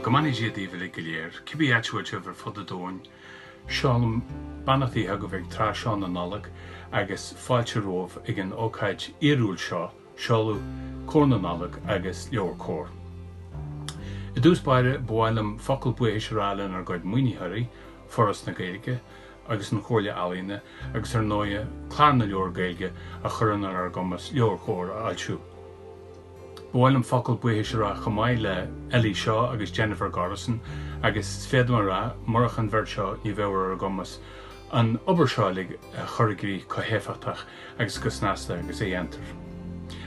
Go mbeannaí Dia daoibh uilig go léir, cibé áit a bhfuil sibh ar fud an domhain. Seolaim beannachtaí chugaibh ag tráth seo na Nollag agus fáilte romhaibh ag an ócáid fhíorúil seo. Seoladh Comhar na Nollag agus Leabhair Comhar. I dtús báire, ba mhaith liom focal buíochais a rá lenár gcuid maoinítheoirí, Foras na Gaeilge agus an Chomhairle Ealaíona, agus ar ndóighe, Clár na Leabhar Gaeilge a chuireann ar ár gcumas Leabhair Chomhar a fhoilsiú. Ba mhaith liom focal buíochais a rá chomh maith le Ellie Shaw agus Jennifer Gorissen agus féadaim a rá, murach an bheirt seo ní bheadh ar ár gcumas an obair seo uilig a chur i gcrích go héifeachtach. agus go snasta agus a dhéantar.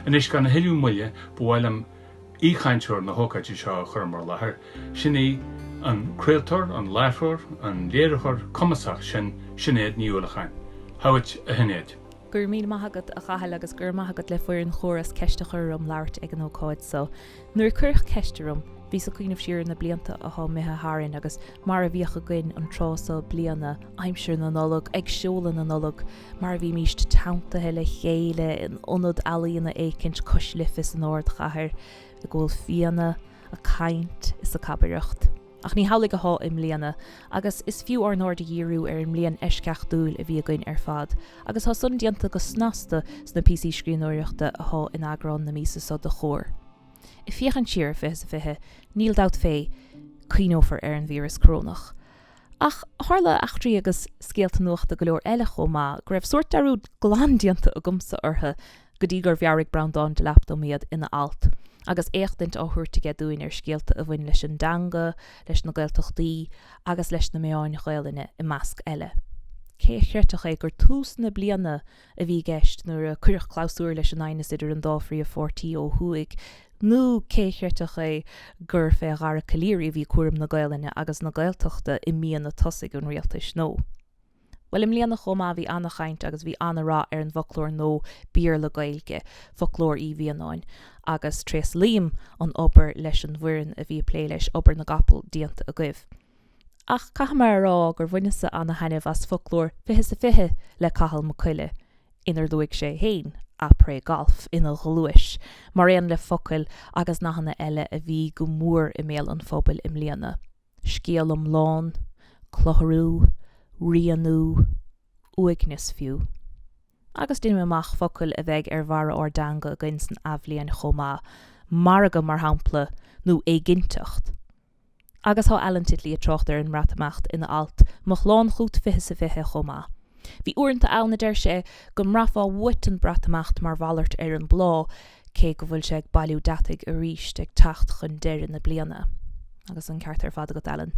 Anois, gan a thuilleadh moille, ba mhaith liom aoichainteoir na hócáide seo a chur in bhur láthair, sin í an craoltóir, an láithreoir, an léiritheoir cumasach sin, Sinéad Ní Uallacháin. Chugat, a Shinéad! Go raibh míle maith agat, a Chathail, agus go raibh maith agat le foireann Chomhar as ceist a chur orm labhairt ag an ócáid so. Nuair a cuireadh ceist orm, bhíos ag cuimhneamh siar ar na blianta atá imithe tharainn agus mar a bhíodh againn an tráth so bliana, aimsir na Nollag, ag seoladh na Nollag, mar a bhímíst teanntaithe le chéile in ionad ealaíona éicint cois Life san ardchathair ag ól fíona a' caint is a' cabaireacht. Ach ní hamhlaidh athá i mbliana, agus is fiú ár n-aird a dhíriú ar an mbliain eisceachtúil a bhí againn ar fad, agus tá san déanta go snasta sna píosaí scríbhneoireachta athá in eagrán na míosa so de Chomhar. Ag féachaint siar ar fiche is a fiche, níl dabht fé, cuimhneofar ar an víreas corónach. Ach tharla eachtraí agus scéalta nuachta go leor eile chomh maith go raibh sórt dearúd glan déanta agamsa orthu go dtí gur mheabhraigh Breandán Delap dom iad ina alt agus éachtaint á thabhairt aige dúinn ar scéalta a bhain leis an dteanga, leis na Gaeltachtaí agus leis na meáin Ghaelainne, i measc eile. Cé a chreidfeadh é gur tús na bliana a bhí i gceist nuair a cuireadh clabhsúr leis an aighneas idir an dá phríomhpháirtí ó thuaidh, nó cé a chreidfeadh é gur fé Dhara Calleary a bhí cúram na Gaelainne agus na Gaeltachta i míonna tosaigh an rialtais nua. Bhuel, i mbliana chomh maith bhí ana-chaint agus bhí ana-rath ar an bhfoclóir nua Béarla-Gaeilge, Foclóir Uí Mhianáin, agus tréaslaím an obair leis an bhfoireann a bhí ag plé leis, obair na gcapall déanta agaibh. Ach caithfidh mé a rá gur bhaineas-sa ana thaitneamh as foclóir fiche is a fiche le Cathal Mac Coille, inar luaigh sé féin après golf ina ghluais, mar aon le focail agus nathanna eile a bhí go mór i mbéal an phobail i mbliana, scéal iomlán, clutharú, rianú, uaigneas fiú. Agus deinim amach focail a bheidh ar bharra ár dteanga againn san athbhliain chomh maith, margadh mar shampla, nó éiginnteacht. Agus tá Alan Titley ag trácht ar an mBreatimeacht ina alt 'Mo Shlán Chút' 20 sa 20 chomh maith. Bhí uaireanta ann, a deir sé, go mbraithfeá uait an Breatimeacht mar mhalairt ar an bplá, cé go bhfuil sé ag bailiú deataigh arís ag teacht chun deireadh na bliana. Agus an ceart ar fad agat, Alan.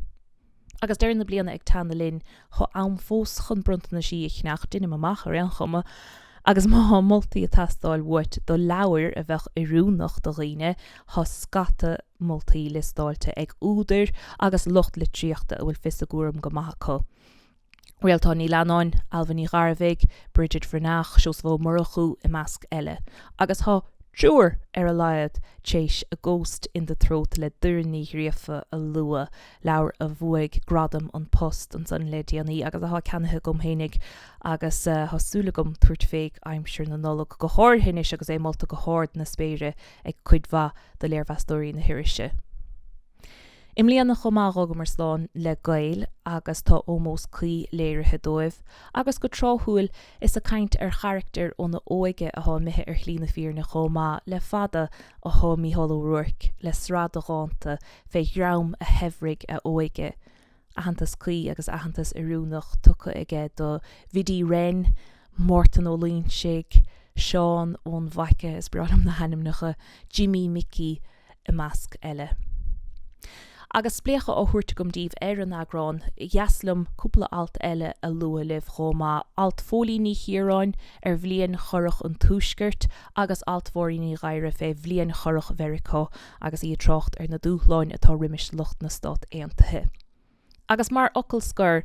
Agus deireadh na bliana ag teannadh linn, Thá am fós chun bronntanaisí a cheannach, deinim amach, ar aon chuma, agus má tá moltaí ag teastáil uait do leabhair a bheadh oiriúnach do dhaoine, thá scata moltaí liostáilte ag údair agus lucht litríochta a bhfuil fios a gcúram go maith acu. Réaltán Ní Leannáin, Ailbhe Ní Ghearbhuigh, Bridget Bhreathnach, Seosamh Ó Murchú, i measc eile. Agus thá triúr, ar a laghad, téis A Ghost in the Throat le Doireann Ní Ghríofa a lua. leabhar a bhuaigh gradam An Post ansan le déanaí agus athá ceannaithe agam fhéinig agus thá súil agam tabhairt fé aimsir na Nollag, go háirithe anois agus é molta go hard na spéire ag cuid mhaith do léirmheastóirí na hirise. I mbliana chomh maith dh'fhágamar slán le Gaeil agus tá ómós cuí léirithe dóibh agus go tráthúil is ag caint ar charachtair óna óige athá imithe ar shlí na fírinne chomh maith le fada athá Mícheál Ó Ruairc le sraith de dhánta fé dhream a shaibhrigh a óige, aitheantas cuí agus aitheantas oiriúnach tugtha aige do Bhiddy Wren, Mártan Ó Loingsigh, Seán ón bhFaithche, is breá liom na hainmneacha, Jimí Mhicí i measc eile. Agus spléachadh á thabhairt agam daoibh ar an eagrán, dheas liom cúpla alt eile a lua libh chomh maith, alt Phóilín Ní Chiaráin ar bhliain chorrach an Tuaiscirt agus alt Mháirín Ní Ghadhra fé bhliain chorrach Mheiriceá. agus í ag trácht ar na dúshláin atá roimis lucht na Stát Aontaithe. Agus mar fhocal scoir,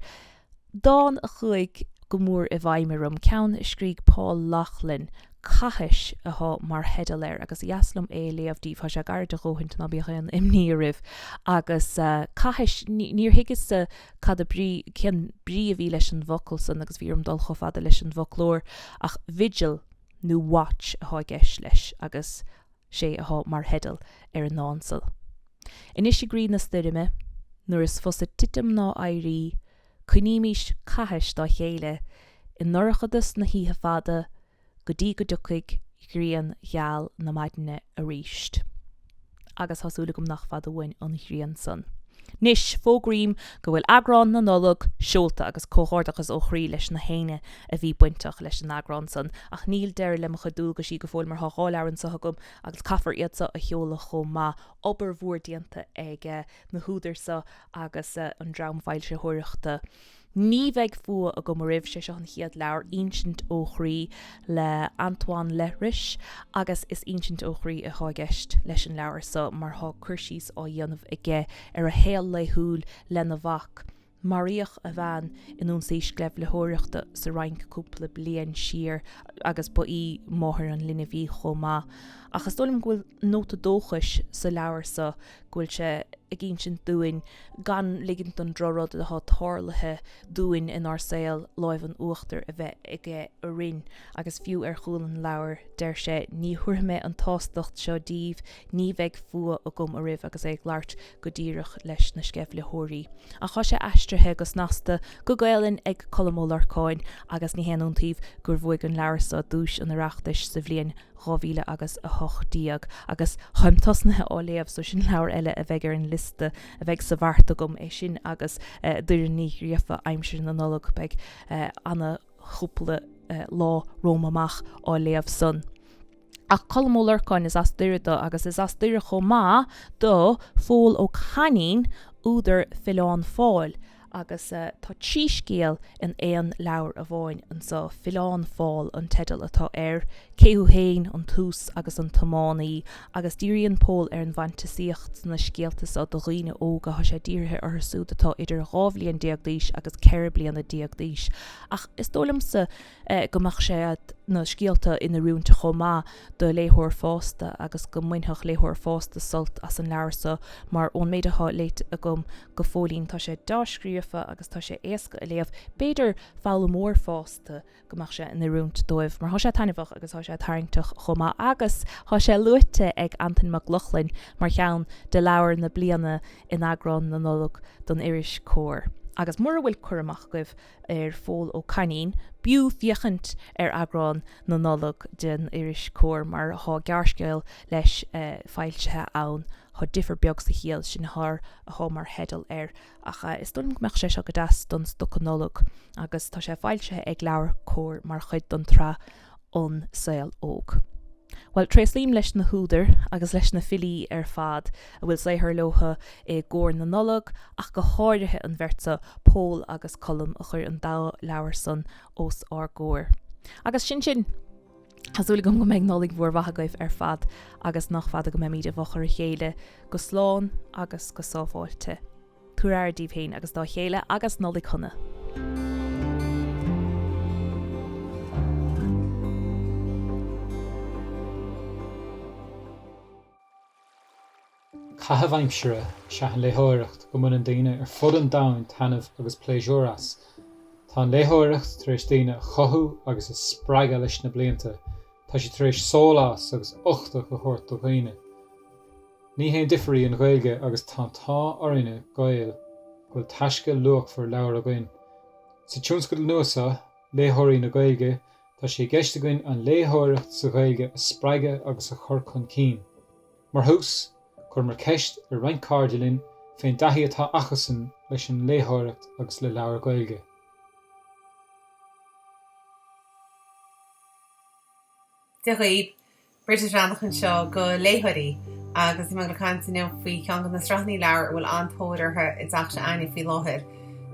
dán a chuaigh go mór i bhfeidhm orm, ceann a scrígh Paul Laughlin, 'Cathais' athá mar theideal air agus dheas liom é a léamh daoibh, thá sé gairid a dhóthaint ná bíodh aon imní oraibh, agus cathais, níor thuigeas-sa cad a brí, cén brí a bhí leis an bhfocal san agus bhí orm dul chomh fada leis an bhfoclóir, ach 'vigil' nó 'watch' athá i gceist leis agus. sé athá mar theideal ar an ndán so. Anois i gcroí na stoirme, nuair is fusa titim ná éirí, coinnímis cathais dá chéile i ndorchadas na hoíche fada go dtí go dtiocfaidh grian gheal na maidne aríst. Agus thá súil agam nach fada uainn an ghrian san. Anois, fógraím go bhfuil eagrán na Nollag seolta agus comhghairdeachas ó chroí leis nach éinne a bhí bainteach leis an eagrán san. Ach níl deireadh le mo chuid dualgaisí go fóill mar tá dhá leabhar anseo agam agus caithfear iad so a sheoladh chomh maith. Obair mhór déanta ag na húdair so agus an dream foilsitheoireachta. Ní bheidh fuath agam oraibh, sé seo an chéad leabhar, Ínsint ó chroí, le Antoine Leiris agus is ínsint ó chroí atá i gceist leis an leabhar so mar tá cur síos á dhéanamh aige ar a shaol laethúil lena mhac. Maraíodh a bhean in ionsaí sceimhlitheoireachta sa Fhrainc cúpla bliain siar agus ba í máthair an linbh í chomh maith. Ach is dóigh liom go bhfuil. nóta dóchais sa leabhar so go bhfuil sé ag ínsint dúinn gan ligint don drochrud atá tarlaithe dúinn in ár saol lámh in uachtar a bheith aige orainn agus fiú ar chúl an leabhair deir sé Ní thabharfaidh mé an tsástacht seo díbh, ní bheidh fuath agam oraibh agus é ag labhairt go díreach leis na sceimhlitheoirí. Ach tá sé aistrithe go snasta go Gaelainn ag Colm Ó Lorcáin agus ní haon iontaoibh gur bhuaigh an leabhar so duais an Oireachtais sa bhliain 2000 agus 18, agus táim tosnaithe á léamh so sin leabhar eile a bheidh ar an liosta a bheidh sa bheart agam, é sin agus Doireann Ní Ghríofa, Aimsir na Nollag, beidh ana chúpla lá romham amach á léamh san. Ach Colm Ó Lorcáin, is as Doire dó agus is as Doire chomh maith do Phól Ó Cainín, údar Filleán Fáil, Agus tá trí scéal in aon leabhar amháin anso, Filleán Fáil an teideal atá air, Cé thú fhéin, An tús agus An tiománaí, agus díríonn Pól ar an bhfantasaíocht sna scéalta so do dhaoine óga, tá sé dírithe orthu súd atá idir dhá bhliain déag d'aois agus ceithre bliana déag d'aois, ach is dóigh liomsa, go mbeadh sé na scéalta in oiriúint chomh maith do léitheoir fásta agus go mbainfeadh léitheoir fásta sult as an leabhar so mar ón méid atá léite agam go fóillín tá sé dea-scríofa agus tá sé éasca a léamh. B'fhéidir foghlaimeoir fásta go mbeadh sé in oiriúint dóibh mar tá sé taitneamhach agus tá sé tarraingteach chomh maith agus tá sé luaite ag Antain Mac Lochlainn mar cheann de leabhair na bliana in eagrán na Nollag don iris Comhar agus mura bhfuil cur amach agaibh ar Phól Ó Cainín, b'fhiú féachaint ar eagrán na Nollag den iris Comhar mar thá gearrscéal leis foilsithe ann, Thá difear beag sa chiall, sin thar a thá mar theideal air, ach is dóigh liom go mbeadh sé seo go deas don stoca Nollag, agus tá sé foilsithe ag LeabhairCOMHAR mar chuid den tsraith an saol óg. Bhuel, tréaslaím leis na húdair agus leis na filí ar fad a bhfuil saothar leotha i gcomhair na Nollag, ach go háirithe an bheirt seo, Pól agus Colm, a chuir an dá leabhar san os ár gcomhair. Agus sin sin! Tá súil agam go mbeidh Nollaig mhór mhaith agaibh ar fad agus nach fada go mbeimid i bhfochair a chéile go slán agus go sábháilte. Tabhair aire díbh féin agus dá chéile agus Nollaig Shona! Caitheamh aimsire is ea an léitheoireacht go mbuineann daoine ar fud an domhain taitneamh agus pléisiúr as. Tá an léitheoireacht tar éis daoine a chothú agus a spreagadh leis na blianta. Tá sé tar éis sólás agus uchtach a thabhairt do dhaoine. Ní haon difir í an Ghaeilge agus tá an t-ádh orainne, Gaeil, go bhfuil taisce luachmhar leabhar againn. Sa tionscadal nua so, Léitheoirí na Gaeilge, tá sé i gceist againn an léitheoireacht sa Ghaeilge a spreagadh agus a chur chun cinn. Mar thús, chuireamar ceist ar roinnt cairde linn fén dtaithí atá acusan leis an léitheoireacht agus le leabhair Ghaeilge. Dia dhaoib, Bridget Bhreathnach anseo do Léitheoirí agus tá mé le caint inniu faoi cheann de na sraitheanna leabhar a bhfuil an-tóir orthu i dteach s'againne faoi láthair,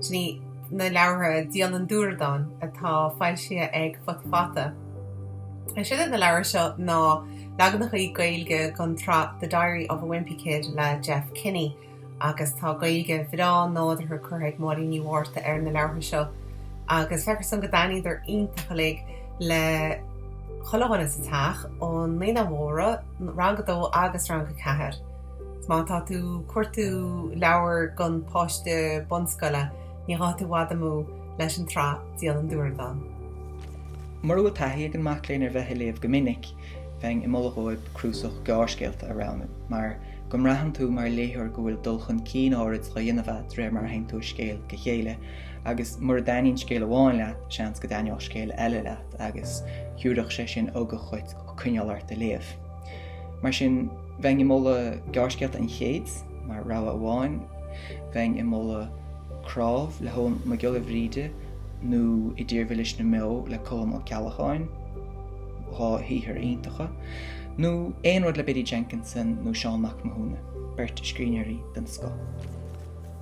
sin í na leabhartha Dialann Dúradáin atá foilsithe ag Futa Fata. Is iad na leabhair seo ná leaganachaí Gaeilge den tsraith The Diary of a Wimpy Kid le Jeff Kinney. agus tá Gaeilge bhreá nádúrtha curtha ag Máirín Ní Mhárta ar na leabhartha seo agus feictear dhomsa go dtaitníodar iontach uilig le chuile dhuine sa teach, ó Naíonáin Mhóra, Rang 2 agus Rang 4. Má tá tú ag cuartú leabhar don pháiste bunscoile, ní ghabhfaidh tú i bhfad amú leis an tsraith Dialann Dúradáin. Mura bhfuil taithí ag an mac léinn ar bheith ag léamh go minic, bheinn ag moladh dhóibh cnuasach gearrscéalta a roghnú, mar go mbraitheann tú mar léitheoir go bhfuil dul chun cinn áirid dhá dhéanamh a't réir mar a théann tú ó scéal go scéal, agus mura dtaitníonn scéal amháin leat, seans go dtaitneodh scéal eile leat, agus thiúrfadh sé sin ugach dhuit coinneáil ort ag léamh. Mar sin, bheinn ag moladh Gearrscéalta an Chéid, mar rogha amháin, bheinn ag moladh Cnámh le hEoghan Mac Giolla Bhríde, nó I dTír Mhilis na mBeo le Colm Ó Ceallacháin, dhá shaothar iontacha, nó aon rud le Biddy Jenkinson nó Seán Mac Mathúna, beirt scríbhneoirí den scoth.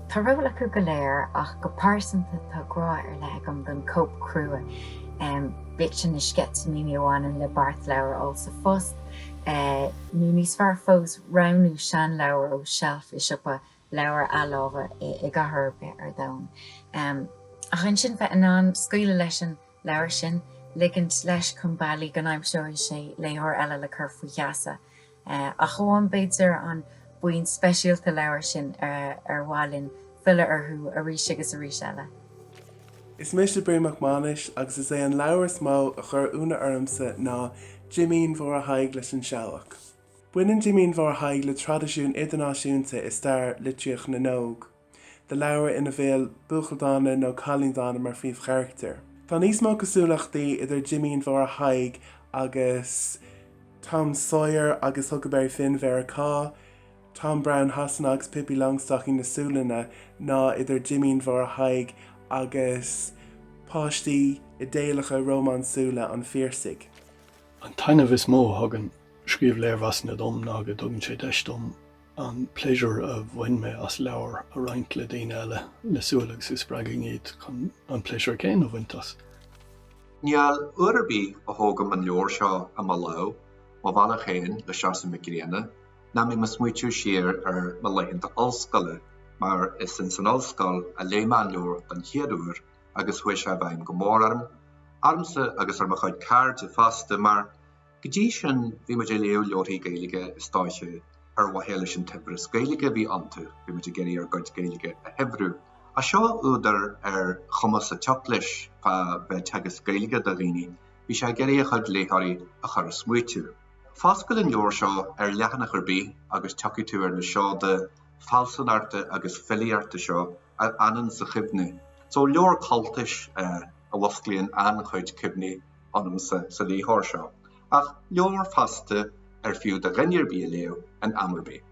Tá ról acu go léir ach go pearsanta tá grá ar leith agam don cóip chrua, bíodh sin na sceitimíní a bhaineann le beart leabhar a fháil sa phost nó níos fearr fós roghnú seanleabhar ó sheilf i siopa leabhar athláimhe i gcathair ar bith ar domhan. Ach ansin bheith in ann scaoileadh leis an leabhar sin, ligint leis chun bealaigh go n-aimseoidh sé léitheoir eile le cur faoi gheasa. Ach amháin b'fhéidir an buíon speisialta leabhar sin ar mhaith linn filleadh orthu arís agus arís eile. Is mise Bríd Mhic Mhánais agus is é an leabhar is mó a chuir ionadh ormsa ná Jimín Mháire Thaidhg leis An Seabhac. Baineann Jimín Mháire Thaidhg le traidisiún idirnáisiúnta i stair litríocht na n-óg, le leabhair ina bhfuil buachaill dána nó cailín dána mar phríomhcharactar. Tá níos mó cosúlachtaí idir Jimín Mháire Thaidhg agus Tom Sawyer agus Huckleberry Finn Mheiriceá, Tom Brown Shasana agus Pippi Longstocking na Sualainne ná idir Jimín Mháire Thaidhg agus páistí idéalacha rómánsúla an Phiarsaigh. An taitneamh is mó a thugann scríobh léirmheasanna dom ná go dtugann sé deis dom an pléisiúr a bhain mé as leabhar a roinnt le daoine eile le súil is go spreagfainn iad chun an pléisiúr céanna a bhaint as. Níl uair ar bith a thógaim an leabhar seo i mo lámh, Mo Bhealach Féin le Seosamh Mac Grianna, nach mbím ag smaoitiú siar ar mo laethanta ollscoile, mar is ins an ollscoil a léigh mé an leabhar den chéad uair agus chuaigh sé i bhfeidhm go mór orm, ormsa agus ar mo chuid cairde fosta, mar Go dtí sin bhí muid ag léamh leabharthaí Gaeilge is dóiche ar mhaithe leis an tsaibhreas Gaeilge a bhí iontu, bhí muid ag iarraidh ár gcuid Gaeilge a shaibhriú. Ach seo údar ar chuma sa tsioc leis fá bheith ag teagasc Gaeilge do dhaoine, bhí sé ag iarraidh a chuid léitheoirí a chur ag smaoitiú. Foscail an leabhar seo ar leathanach ar bith agus tiocfaidh tú ar na seoda fealsúnachta agus filíochta seo a fhanann sa chuimhne. So leabhar cultais a fhosclaíonn an-chuid cuimhní ionamsa sa léitheoir seo, ach leabhar fosta ar fiú do dhuine ar bith a léamh in am ar bith.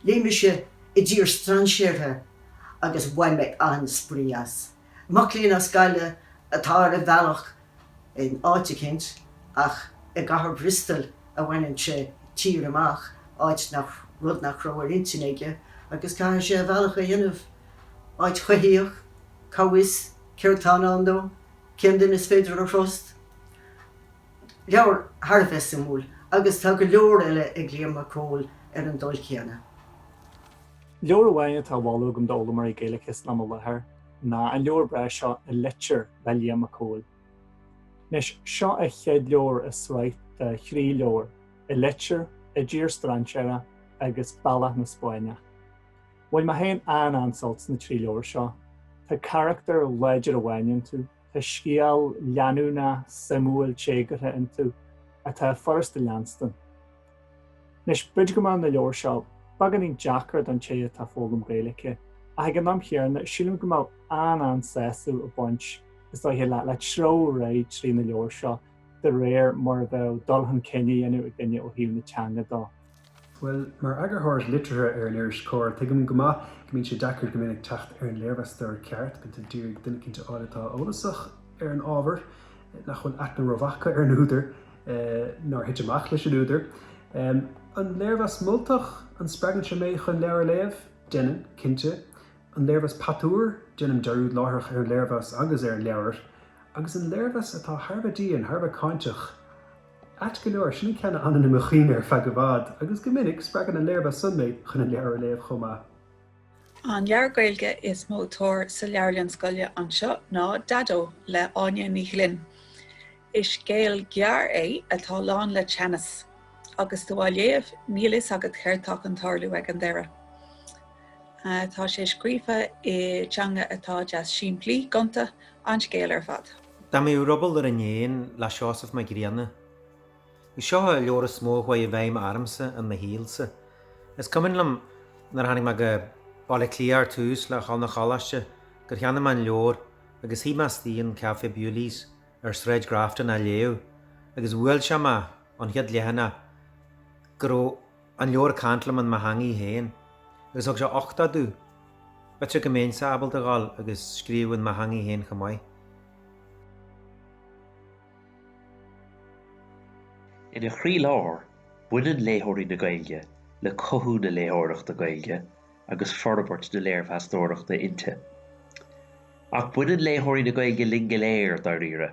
Léigh mise I dTír Strainséartha agus bhain mé an-spraoi as. Mac léinn as Gaillimh atá ar a bhealach in áit eicínt ach i gcathair Bhristol a bhaineann sé tír amach, áit nach, rud nach raibh ar intinn aige agus caithfidh sé a bhealach a dhéanamh. Áit choimhthíoch, cá bhfios céard tá i ndán dó? Cén duine is féidir a thrust? Leabhar thar a bheith suimiúil agus tá go leor eile ag Liam Mac Cóil ar an dul céanna. Leabhar amháin atá á mholadh agam d'fhoghlaimeoirí Gaeilge san am i láthair ná an leabhar breá seo An Litir le Liam Mac Cóil. Anois, seo an chéad leabhar i sraith de thrí leabhar, An Litir, I dTír Strainséartha agus Bealach na Spáinneach. Bhain mé féin an-an-sult sna trí leabhar seo. Tá carachtar láidir amháin iontu, tá scéal leanúnach, suimiúil, téagartha iontu atá furasta a leanstan. Anois, b'fhéidir go mbeadh na leabhar seo beagáinín deacair don té atá ag foghlaim Gaeilice, ach ag an am chéarna, sílim go mbeadh an-an-sásamh ag baint, is dóiche, le treabhadh réidh trí na leabhar seo de réir mar a bheadh dul chun cinn á dhéanamh ag duine ó thaobh na teanga dó. Bhuel, mar eagarthóir liteartha ar an iris Comhar, tuigim go maith go mbíonn sé deacair go minic teacht ar an léirmheastóir ceart, bíonn tú ag iarraidh duine cinnte a fháil atá eolasach ar an ábhar, nach bhfuil aithne rómhaith aige ar an údar, nár thit amach leis an údar. An léirmheas moltach, an spreagann sé mé chun leabhar a léamh? Deineann, cinnte. An léirmheas patuar, déanaim dearúd láithreach ar an léirmheas agus ar an leabhar. Agus an léirmheas atá thar a bheith dian, thar a bheith cáinteach? Ait go leor, sin an ceann a fhanann i mo chuimhne ar feadh i bhfad, agus go minic, spreagann an léirmheas san mé chun an leabhar a léamh chomh maith. An leabhar Gaeilge is mó tóir sa leabharlann scoile anseo ná Daideo le Áine Ní Ghlinn. Is scéal gearr é atá lán le teannas, agus tú á léamh níl a fhios agat céard tá chun tarlú ag an deireadh. Tá sé scríofa i dteanga atá deas simplí, gonta, an scéal ar fad. Dá mbeadh ruball ar an éan le Seosamh Mac Grianna. Is seo an leabhar is mó a chuaigh i bhfeidhm ormsa in mo shaolsa. Is cuimhin liom nuair a tháinig mé go Baile Átha Cliath ar tús le ghabháil 'na choláiste gur cheannaigh mé an leabhar agus shuigh mé istigh in Café Bewley's ar Shráid Grafton á léamh agus bhuail sé mé an chéad leathanach go raibh an leabhar ag caint liom in mo theangaidh féin agus thug sé uchtach domh b'fhéidir go mbéinnse ábalta ghabháil agus scríobh in mo theangaidh féin chomh maith. Ina chroílár, baineann léitheoirí na Gaeilge le cothú na léitheoireachta Gaeilge agus forbairt na léirmheastóireachta inti. Ach baineann léitheoirí na Gaeilge linn go léir, dáiríre.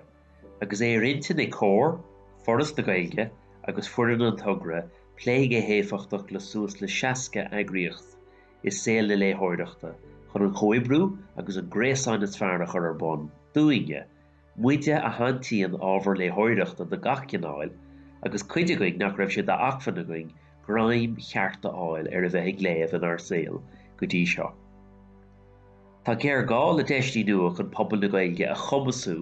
Agus é ar intinn ag Comhar, Foras na Gaeilge agus foireann an togra plé go héifeachtach le suas le 60 eagraíocht i saol na léitheoireachta chun an comhoibriú agus an gréasán is fearr a chur ar bun dúinne, muide a shantaíonn ábhar léitheoireachta de gach cineáil agus cuid againn nach raibh sé d'acmhainn againn greim ceart a fháil ar a bheith ag léamh inár saol go dtí seo. Tá géarghá le deiseanna nua chun pobal na Gaeilge a chumasú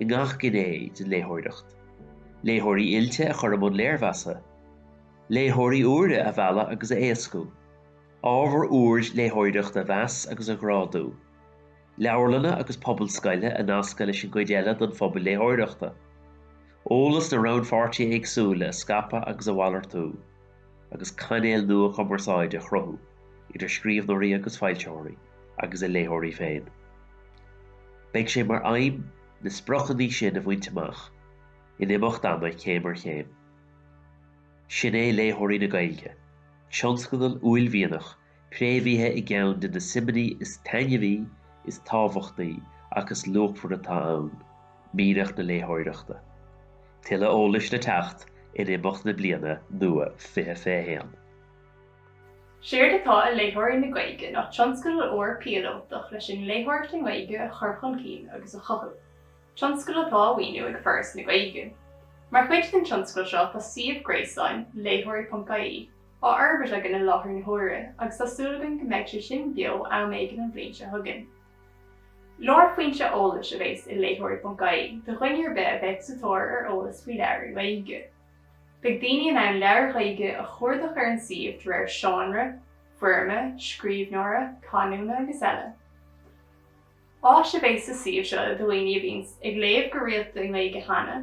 i ngach gné den léitheoireacht. Léitheoirí oilte a chur i mbun léirmheasa. Léitheoirí úra a mhealladh agus a éascú. Ábhar úr léitheoireachta a mheas agus a ghrádú. Leabharlanna agus pobail scoile a nascadh leis an gcuid eile den phobal léitheoireachta. Eolas na rannpháirtithe éagsúla a scaipeadh agus a mhalartú. agus cainéil nua cumarsáide a chruthú idir scríbhneoirí agus foilsitheoirí agus a léitheoirí féin. Beidh sé mar aidhm na spriocannaí sin a bhaint amach, in imeacht ama, céim ar chéim. Sin é Léitheoirí na Gaeilge, tionscadal uaillmhianach préamhaithe i gceann de na suimeanna is taitneamhaí, is tábhachtaí agus is luachmhaire atá ann, mianach na léitheoireachta. Tuilleadh eolais le teacht in imeacht na bliana nua 2021. Séard atá i Léitheoirí na Gaeilge ná tionscadal úr píolótach leis an léitheoireacht i nGaeilge a chur chun cinn agus a chothú, tionscadal atá á mhaoiniú ag Foras na Gaeilge. Mar chuid den tionscadal seo tá suíomh gréasáin, léitheoirí.ie, á fhorbairt againn i láthair na huaire agus tá súil againn go mbeidh sé sin beo am éigin an bhliain seo chugainn. Lárphointe eolais a bheas i Léitheoirí.ie do dhuine ar bith a bheadh sa tóir ar eolas faoi leabhair i nGaeilge. Beidh daoine in ann leabhair Ghaeilge a chuardach ar an suíomh de réir seánra, foirme, scríbhneora, canúna agus eile. Áis a bheas sa suíomh seo do dhaoine a bhíonns ag léamh go rialta i nGaeilge cheana,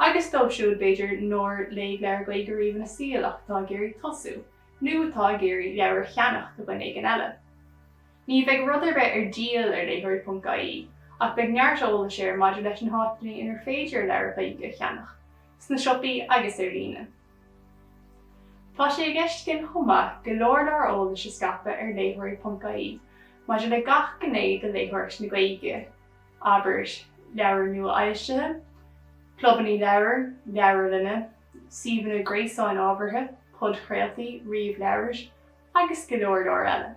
agus dóibh siúd, b'fhéidir, nár léigh leabhar Gaeilge riamh ina saol ach atá ag iarraidh tosú, nó atá ag iarraidh leabhar a cheannach do dhuine éigin eile. Ní bheidh rud ar bith ar díol ar léitheoirí.ie, ach beidh neart eolais air maidir leis na háiteanna inar féidir leabhair Ghaeilge a cheannach, sna siopaí agus ar líne. Tá sé i gceist againn chomh maith go leor leor eolais a scaipeadh ar léitheoirí.ie Maidir le gach gné de léitheoireacht na Gaeilge, abair, leabhair nua-fhoilsithe, clubannaí leabhar, leabharlanna, suíomhanna gréasáin ábhartha, podchraoltaí, ríomhleabhair agus go leor leor eile.